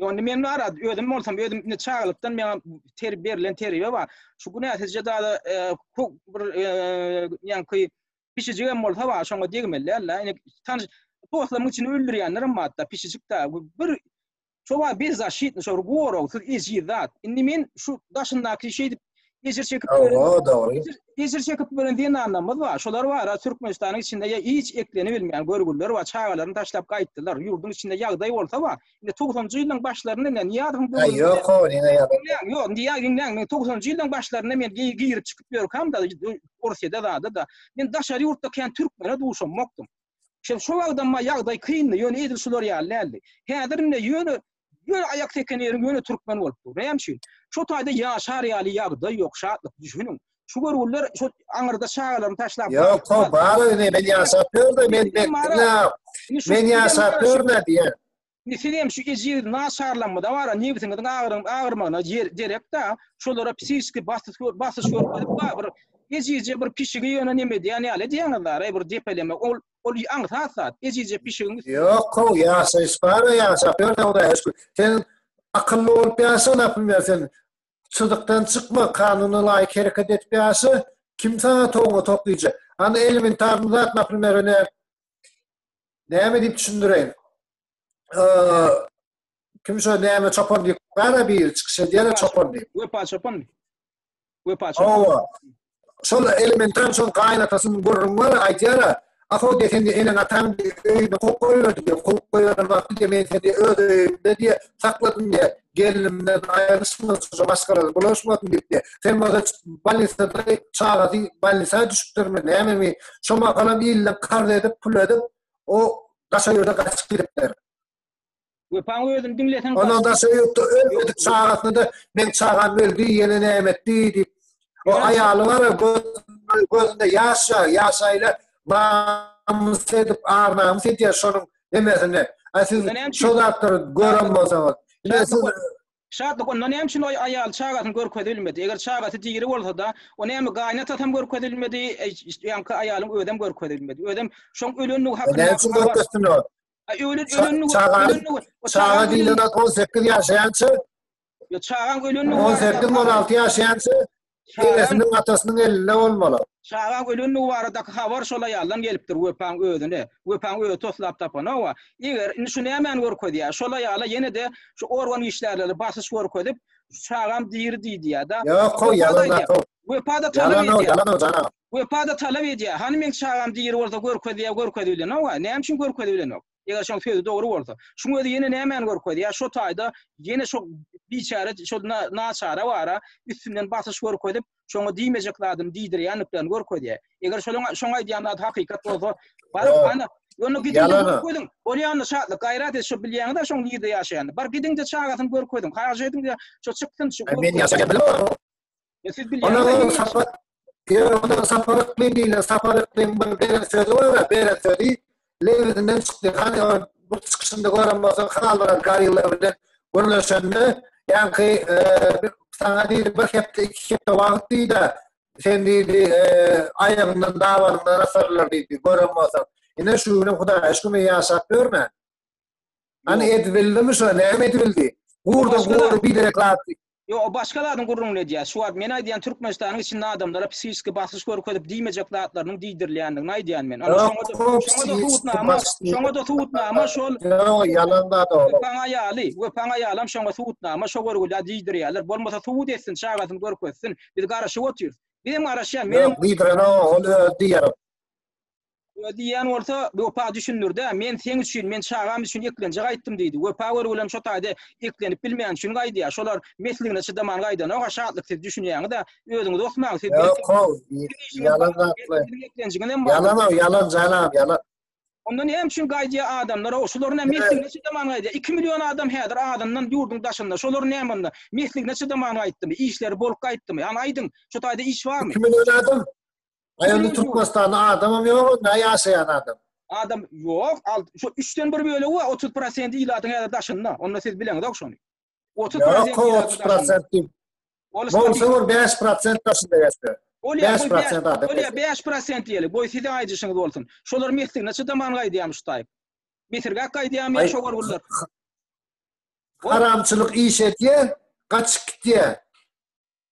Speaker 2: Ýöne
Speaker 1: men bar özüm bolsam özüm indi çagalykdan meňa ter berlen terbiýe bar. Şu gün äsirje dada e, bir e, ýanky pişijik hem bolsa bar şoňa degmelilärler. Indi tanyş dostlaryň içini öldürýänlerim bar da pişijik da bir çoba bir zaşitni şor goragsyz ejiz zat. Indi men şu daşyndaky şeýdip Ejir çekip Oho, dogry. Ejir çekip gören zenanlarymyz bar. Şolar bara Türkmenistanyň içinde ýa hiç ekleni bilmeýän görgüliler bar. Çagalaryny taşlap gaýtdylar. Ýurduň içinde ýagdaý bolsa bar. Indi 90-njy ýyllaryň başlarynda indi Niýazowyň döwründe. Ýok, o diňe ýagdaý.
Speaker 2: Diňläň, ýok, indi ýa diňläň,
Speaker 1: men 90-njy ýyllaryň başlarynda men girip çykyp ýörkämde, Orsyýada zada-da, men daşary ýurtda kän türkmene duşamokdym. Şo wagtam ýagdaý kyndy, ýöne edil şular ýaly däldi. Häzir indi ýöne Ýöne aýak seken ýeriň ýöne türkmen bolup dur. Näme üçin? Şu taýda ýaşar ýaly ýagdaý ýok, şatlyk düşüniň. Şu görgüliler şu aňyrda çagalaryny taşlap. Ýok, to bar öýde
Speaker 2: men ýaşap ýörde men bekdina. Men ýaşap ýörde diýen. Indi siz hem şu
Speaker 1: ejiz naçarlanma da bar, nebsiňiziň agyryň agyrmagyna derekda, şolara psihiki basyş basyş görkezip bir ejizje bir pişigi ýöne neme diýen ýaly diýeniz da, bir depeleme ol Ol aňsat zat, ejizje pişigiň üstüne. Ýok-ow, ýaşaýyş
Speaker 2: bar-a, ýaşap ýör Hudaýa şükür. Sen akylly bolup ýaşa, Naprimýer, sen çyzykdan çykma, kanuna laýyk hereket edip ýaşa, kim saňa toňňa tok diýjek? Anda elementarnyý zat, Naprimýer, ine, näme diýip düşündireýin? kim şo näme çopan diýip gara bir çykyş edýär çopan diýip. Wepa çopan.
Speaker 1: Wepa çopan. Owa.
Speaker 2: Şol elementar şol gaýnatasynyň gürrüň bar aýdýar. Aho desen de enen ataň öýüne kok goýberdi diýip, kok goýan wagty diýip, men seni öz öýümde diýip, sakladym diýip, gelinimden aýrylyşmaz, şo maşgalada bulaşmasyn diýip diýip. Sen bolsa balnisada çagasy balnisa düşüpdirmi, nämemi? Şo mahalam ýylyň karz edip, pul edip, O daşa ýurda gaçyp gidipdir. Wepaň
Speaker 1: özüni diňleseň. Ondan daşa ýurtda
Speaker 2: ölmedik çagasyna-da meň çagam öldi, ýene näme etdi diýip. O aýaly bar, gözünde ýaş ýa, ýaşaýla namys edip, ar namys edýär şonuň nemesine. Siz şo zatlary gören bolsaňyz.
Speaker 1: Şatlyk onda näme üçin oý aýaly çagasyny görkezibilmedi? Eger çagasy diri bolsada, o näme gaýynatasam görkezibilmedi, ýaňky aýalyň özem görkezibilmedi. Özem şoň ölendigi hakynda. Näme üçin görkezsinler?
Speaker 2: Ölen ölendigi. Çagasy. Çaga diýlen zat on sekiz ýaşaýança. Ýa
Speaker 1: çagaň ölendigi. On sekiz on alty
Speaker 2: ýaşaýança. Enesiniň, atasynyň elinde bolmaly. Çagaň ölendigi
Speaker 1: baradaky habar şol aýaldan gelipdir Wepaň özüne. Wepaň özi toslap tapanok-a. Eger, indi şu nämäni görkezýär? Şol aýala ýene-de şu organ işgärleri basyş görkezip, Çagam diri diýdiýär-de. Ýok-ow, ýalan-a-kow.
Speaker 2: Wepa-da talap edýär. Ýalan-ow,
Speaker 1: ýalan-ow, janagam.
Speaker 2: Wepa-da talap
Speaker 1: edýär. Hany meň çagam diri bolsa görkezýär, görkezibilenok-a. Näme üçin görkezibilenok? Eger şoň sözi dogry bolsa. Şuň özi ýene nämäni görkezýär? Şo taýda ýene şo biçäre şo naçara bara üstünden basyş görkezip, şoňa diýmejek zadyny diýdirýändiklerini görkezýär. Eger şoň şoň aýdýan zady hakykat bolsa, bar ana Ýöne gidiň görkeziň. Bolýanda şatlyk, gaýrat et şo bilýäňiz-ä şoň ýerde ýaşaýany. Bar gidiň-de çagasyny görkeziň. Haýyş ediň-de şo çyksyn şu. Men ýaşaýan bilim. Ondan sapar, ýöne ondan
Speaker 2: sapar ykmyn diýilýär, sapar ykmyn bir beren sözi bar, beren sözi lebzinden çykdy. Hany o bir çykyşynda gören bolsaň, halylar, garýylar bilen gürleşende, ýaňky saňa diýdi, bir hepde, iki hepde wagt diýdi, sen diýdi, aýagyňdan, dabaňdan asarlar diýdi, gören bolsaň. Ine şu günem Hudaýa şükür, men ýaşap ýörmän. Ana Ýok. edip bildimi şo? Näme edip bildi? Gurda başga da- gury biderek zat. Ýok, o başga zadyň
Speaker 1: gürrüňini edýär. Şu wagt men aýdýan Türkmenistanyň içinde adamlara psihiki basyş görkezip diýmejek zatlarynyň diýdirilýändigini aýdýan men. Ana Ýok, şoňa da o şoňa da psihiki subutnama, basyş diýip- şoňa da subutnama şol Ýok, ýalan zat
Speaker 2: oglum. Wepaň aýaly, Wepaň aýalam
Speaker 1: şoňa subutnama, şo görgülä diýdirýärler. Bolmasa subut etsin, çagasyny görkezsin. Biz garaşyp otyrys. Bizem garaşýan, menem Ýok, diýdirenok, ol
Speaker 2: özi diýerok. Öýe
Speaker 1: diýýän bolsa, Wepa düşündir-dä, men seň üçin, men çagam üçin eklenje gaýtdym diýdi. Wepa görgülem şo taýda eklenip bilmän üçin gaýdýar. Şolar mesligine çydaman gaýdanok-a, Şatlyk siz düşünýäňiz-ä, özüňiz osmaň, siz belki Ýok-ow, ýalan zatlar.
Speaker 2: Ýalan-ow, ýalan janam, ýalan. Onda näme
Speaker 1: üçin gaýdýar adamlar-ow, şolar näme mesligine çydaman gaýdýar. Iki million adam häzir adyndan ýurduň daşynda, şolar näme onda, mesligine çydaman gaýtdymy, işleri bolup gaýtdymy, hany aýdyň, şo taýda iş barmy? Iki million adam,
Speaker 2: Aýanda Türkmenistanda adamam ýok, onda ýaşaýan adam. Adam ýok,
Speaker 1: al, şu 3-den 1 bölegi we 30% ilatyň häzir daşynda. Onda siz bileňizok şony. 30% ilatyň
Speaker 2: daşynda. Ol şol bir 5% daşynda ýaşaýar. Ol ýa 5% adam. Ol ýa 5% ýeli.
Speaker 1: Goý size aýdyşyňyz bolsun. Şolar mesligine çydaman gaýdýarmyş taýyp. Mesirgäk gaýdýarmyş şo gorgullar. Haramçylyk
Speaker 2: iş etýär, gaçyp gitýär.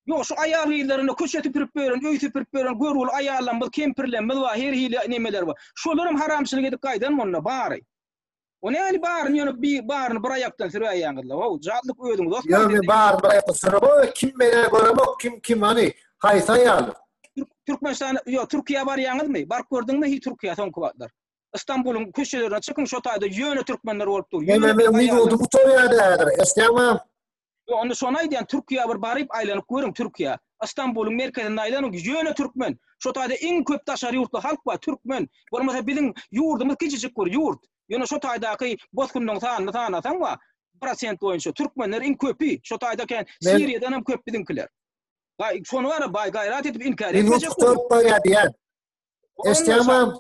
Speaker 2: Ýok,
Speaker 1: şu aýal-gyzlarynda köçe süpürip ýören, öý süpürip ýören görgüli aýallarymyz, kempirlerimiz bar, her hili nemeler bar. Şolaram haramçylyk edip gaýdanmy onda, bary? O näli baryny ýöne bi baryny bir aýakdan süräýýäňizle. Wow, jadylyk özüňiz dost. Ýa men bar bir aýakdan
Speaker 2: sürüp, o kim meni göremok, kim kim hany, haýsy aýal? Türkmenistan,
Speaker 1: ýok, Türkiýä barýaňyzmy? Baryp gördüňmi hiç Türkiýä soňky wagtlar? Istanbulyň köçelerine çykyň şo taýda ýöne türkmenler bolup dur. Ýöne men minoty
Speaker 2: gutarýar häzir. Eşdýäňmi? Ýok onda şony
Speaker 1: aýdýan Türkiýä bir baryp aýlanyp görüň Türkiýä. Istanbulyň merkezinde aýlanyň ýöne türkmen. Şo taýda iň köp daşary ýurtly halk bar türkmen. Bolmasa biziň ýurdumyz kiçijik bir ýurt. Ýöne şo taýdaky bosgunlaryň sanyny sanasaň wa prosent boýunça türkmenler iň köpi. Şo taýda eken Siriýadan hem köp biziňkiler. Şony garabaý gaýrat edip inkär etmejek. Minoty gutarýar diýýän.
Speaker 2: Eşdämem.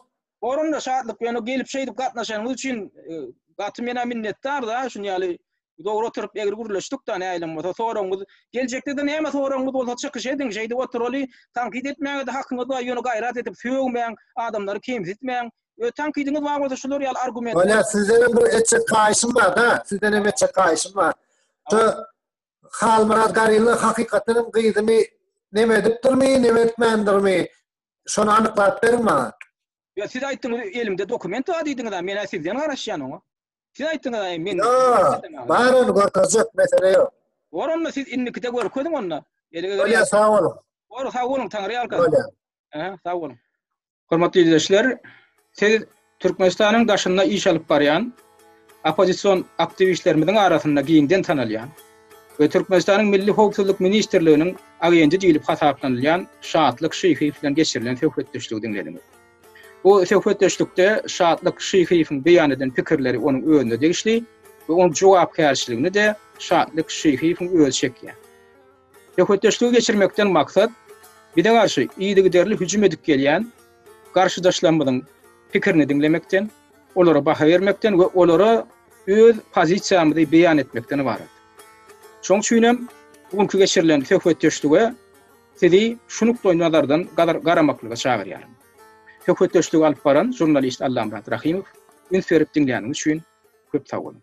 Speaker 2: Gorumda şatlyk
Speaker 1: bilen gelip şeýdip gatnaşanyňyz üçin e, gaty mena minnetdar da şun ýaly dogry oturyp egri gürleşdik da näýlem bolsa soragyňyz geljekde de näme soragyňyz bolsa çykyş ediň şeýdip oturaly tankyt etmäge de hakyňyz bar ýöne gaýrat edip sögmäň adamlary kemsitmäň öz tankydyňyz bar bolsa şular ýaly argument Öyle sizden hem bir
Speaker 2: etçek kaýyşym bar da sizden hem etçek kaýyşym bar şu Halmyrat Garilla hakykatdan hem gyzymy neme edipdirmi neme etmändirmi Şony anyklap beriň maňa. Ýa siz aýtdyňyz
Speaker 1: elimde dokument bar diýdiňiz-ä men-ä sizden garaşýan oňa. Siz aýtdyňyz-ä men Ýok, bar ony
Speaker 2: görkezjek mesele ýok. Bor onda siz indikide
Speaker 1: görkeziň onda. Bolýar sag boluň.
Speaker 2: Bor sag boluň
Speaker 1: Taňryýalkasyn. Bolýar. Sag boluň. Hormatly ildeşler siz Türkmenistanyň daşynda iş alyp barýan oppozision aktiwistlerimiziň arasynda giňden tanalýan we Türkmenistanyň Milli howpsuzlyk ministrliginiň agenti diýlip hasaplanylýan Şatlyk Şyhyýew bilen geçirilen söhbetdeşligi diňlediňiz. Bu söhbetdeşlikde Şatlyk Şyhyýewiň beýan eden pikirleri onuň özüne degişli we onuň jogapkärçiligini-de Şatlyk Şyhyýewiň özi çekýär. Söhbetdeşligi geçirmekden maksat bize garşy yzygiderli hüjüm edip gelýän garşydaşlarymyzyň pikirini diňlemekden, olara baha bermekden we olara öz pozisiýamyzy beýan etmekden ybarat. Şoň üçin hem bu günki geçirilen söhbetdeşlige sizi şu nukdaýnazardan garamaklyga çagyrýaryn. Söhbetdeşligi alyp baran žurnalist Allamyrat Rahymow üns berip diňläniňiz üçin köp sag boluň.